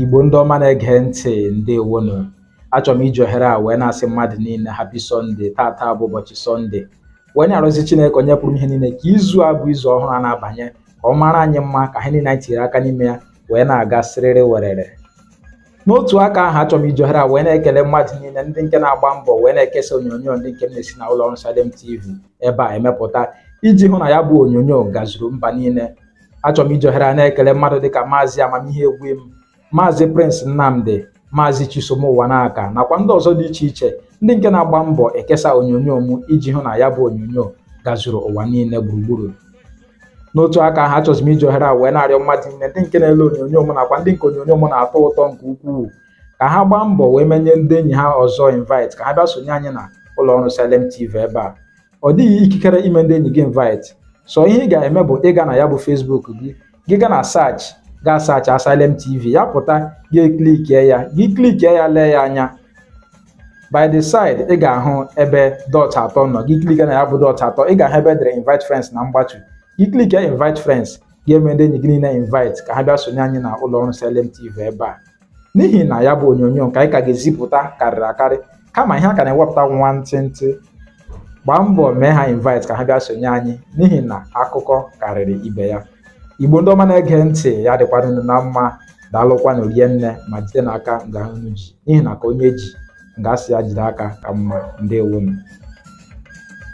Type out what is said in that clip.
Igbo ndị ọma na-ege ntị ndewonu achọrọ m iji ohere a wee na-asị mmadụ niile happy Sunday tata bụ ụbọchị sọnde wee na-arịọzi Chineke onye pụrụ ime ihe niile ka izu a bụ izu ọhụrụ a na-abanye ka ọ mara anyị mma ka ihe niile anyị tinyere aka n'ime ya wee na-aga siriri werere n'otu aka ahụ achọrọ m iji ohere a wee na-ekele mmadụ niile ndị nke na-agba mbọ wee na-ekesa onyonyo ndị nke m na-esi na ụlọ ọrụ Salem TV ebe a emepụta iji hụ na ya bụ onyonyo gazuru mba niile achọrọ m iji ohere a na-ekele mmadụ dịka maazị Amamihe Egwim maazị Prince Nnamdi maazị Chisom Ụwanaka nakwa ndị ọzọ dị iche iche ndị nke na-agba mbọ ekesa onyonyo m iji hụ na ya bụ onyonyo gazuru ụwa niile gburugburu n'otu aka ahụ achọzi m iji ohere a wee na-arịọ mmadụ niile ndị nke na-ele onyonyo m nakwa ndị nke onyonyo m na-atọ ụtọ nke ukwuu ka ha gbaa mbọ wee menye ndị enyi ha ọzọ invite ka ha bịa sonye anyị na ụlọ ọrụ Salem TV ebe a ọ dịghị ikikere ime ndị enyi gị invite sọ ihe ị ga-eme bụ ịga na ya bụ Facebook gị gị gaa na search gaa searchịa Salem TV ya pụta gị klikie ya gị klikie ya lee ya anya by the side ị ga-ahụ ebe dot atọ nọ gị klikie na ya bụ dot atọ ị ga-ahụ ebe e dere invite friends number two gị klikie invite friends ga-eme ndị enyi gị niile invite ka ha bịa sonye anyị na ụlọ ọrụ Salem TV ebe a n'ihi na ya bụ onyonyo nke anyị ka ga-ezipụta karịrị akarị kama ihe a ka na-ewepụta nwantịntị gbaa mbọ mee ha invite ka ha bịa sonye anyị n'ihi na akụkọ karịrị ibe ya igbo ndị ọma na-ege ntị ya dịkwara unu na mma daalụkwanụ rinne ma jidenụ aka nga unu ji n'ihi na ka onye ji nga a sị ya jide aka ka mma ndewonu